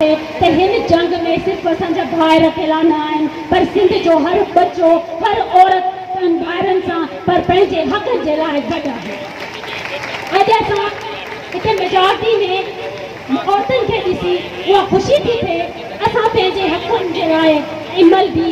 ته هن جنگ ۾ صرف اسان جا ڀائر اڪيلا نه آهن پر سنڌ جو هر ٻچو هر عورت پنهن ڀائرن سان پر پنهنجي حق جي لاء گڏ آهي اڄ اسان هتي ميجارٽي ۾ عورتن کي ڏسي اها خوشي ٿي ٿئي اسان پنهنجي حقن جي لاء ۽ ملبي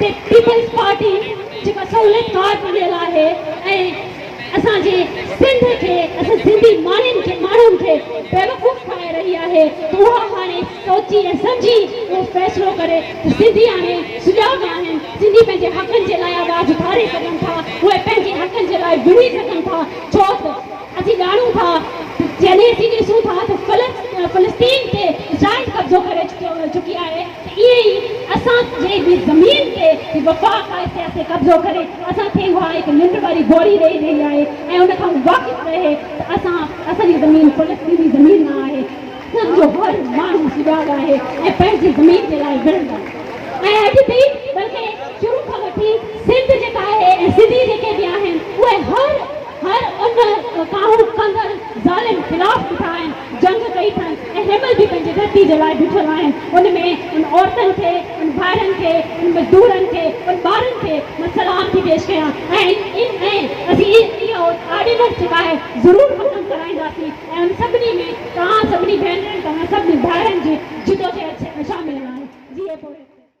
پيپلز پارٽي جيڪا سهولت ڪار بڻيل آهي ۽ اسان جي سنڌ کي اسان سنڌي ماڻهن کي ماڻهن کي بيوقوف ٺاهي رهي آهي ته اها هاڻي سوچي ۽ سمجهي اهو فيصلو ڪري ته سنڌي هاڻي سجاڳ آهن سنڌي پنهنجي حقن جي لاء آواز اٿاري سگهن ٿا اهي پنهنجي حقن جي لاء وڙهي سگهن ٿا ڇو ته اچي ڄاڻون ٿا ته جڏهن اسين ڏسون ٿا ته فلسطين تي اسرائيل قبضو ڪري چڪي آهي ته ائين ئي اسان جي به زمين تي به وفاق آهي سياسي قبضو ڪري اسان کي اها هڪ ننڊ واري گوري ڏئي رهي آهي ۽ ان کان واقف رهي ته اسان اسان جي زمين فلسطيني زمين نه آهي اسان جو هر ماڻهو سجاڳ آهي ۽ پنهنجي زمين جي لاء وڙهندڙ ۽ اڄ به بلڪه شروع کان وٺي سنڌ جيڪا آهي ۽ سنڌي جيڪي به آهن اهي هر هر ان ڪاهو ڪندڙ ظالم خلاف بيٺا آهن جنگ ڪئي ٿن ۽ هيمهل به پنهنجي ڌرتي جي لاء بيٺل آهن ان ۾ ان عورتن کي ان ڀائرن کي ان مزدورن کي ان ٻارن کي مان سلام ٿي پيش ڪيان ۽ ان ۽ اسين اهو آرڊيننس جي ٻاهر ضرور ختم ڪرائينداسين ۽ ان سڀني ۾ توهان سڀني ڀينرن توهان سڀني ڀائرن جي جدوجهد شامل آهي جي اهي پورهيت ڪري.